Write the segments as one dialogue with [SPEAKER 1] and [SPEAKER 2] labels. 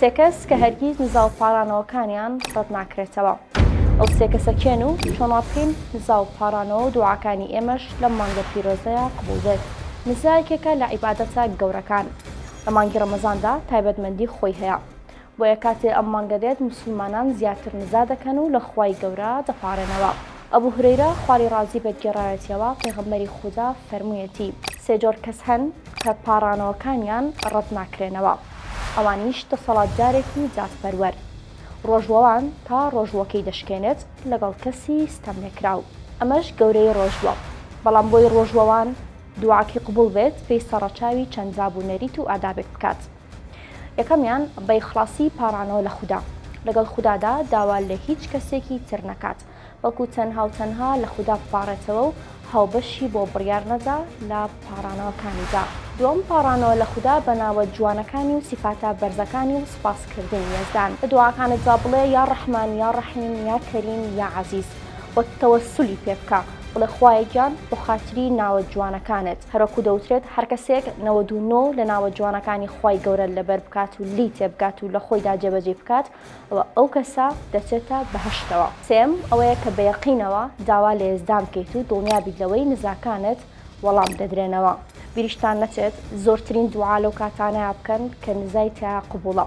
[SPEAKER 1] سێ کەس کە هەرگیز نزا و پاڕانەوەکانیان ڕەت ناکرێتەوە. ئەو سێ کەسە کێن و چۆن وا بکەین نزا و پاڕانەوە و دوعاکانی ئێمەش لەم مانگە پیرۆزەیا قبوڵ بێت؟ نزا یەکێکە لە عیبادەتە گەورەکان. لە مانگی ڕەمەزاندا تایبەتمەندی خۆی هەیە. بۆیە کاتێ ئەم مانگە دێت موسڵمانان زیاتر نزا دەکەن و لە خوای گەورە دەپاڕێنەوە. ئەبو هورەیرە خوای ڕازی بێت گێڕایەتیەوە، پێغەمبەری خودا فەرموویەتی. سێ جۆر کەس هەن کە پاڕانەوەکانیان ڕەت ناکرێنەوە. ئەوانیش دەسەڵاتدارێکی جاسپەروەر ڕۆژوەوان تا ڕۆژوەکەی دەشکێنێت لەگەڵ کەسی ستەملێکراو ئەمەش گەورەی ڕۆژوە بەڵام بۆی ڕۆژوەوان دوعاکی قبوڵ بێت پێیسە ڕەچاوی چەند باب و نەریت و ئادابێک بکات یەکەمیان بەیخڵاسی پاڕانەوە لە خودا لەگەڵ خودادا داوا لە هیچ کەسێکی تر نەکات بەڵکو تەنها و تەنها لە خودا بپاڕێتەوە و هاوبەشی بۆ بڕیار نەدا لە پاڕانەوەکانیدا. دووەم پاڕانەوە لە خودا بە ناوە جوانەکانی و سیفاتە بەرزەکانی و سوپاسکردنی یەزدان. لە دوعاکانتدا بڵێ یا ڕەحمان یا ڕەحیم یا کەریم یا عەزیز و تەوەسولی پێ بکە، بڵێ خوایە گیان بۆ خاتری ناوە جوانەکانت، هەروەکو دەوترێت هەر کەسێک نەوەد و نۆ لە ناوە جوانەکانی خوای گەورە لەبەر بکات و لێی تێبگات و لە خۆیدا جێبەجێی بکات، ئەوا ئەو کەسە دەچێتە بەهەشتەوە. سێیەم ئەوەیە کە بە یەقینەوە داوا لە یەزدان بکەیت و دڵنیا بیت لەوەی نزاکانت وەڵام دەدرێنەوە. بیریشتان نەچێت زۆرترین دوعا لەو کاتانەیە بکەن کە نزای تیایا قبوڵە.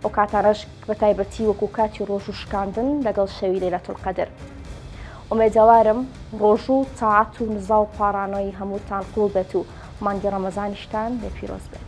[SPEAKER 1] ئەو کاتانەش بە تایبەتی وەکو کاتی ڕۆژوو شکاندن لەگەڵ شەوی لەیلەتولقەدر. ئومێدەوارم ڕۆژوو و تاعەت و نزا و پاڕانۆی هەمووتان قبوڵ بێت و مانگی ڕەمەزانیشتان لێ پیرۆز بێت.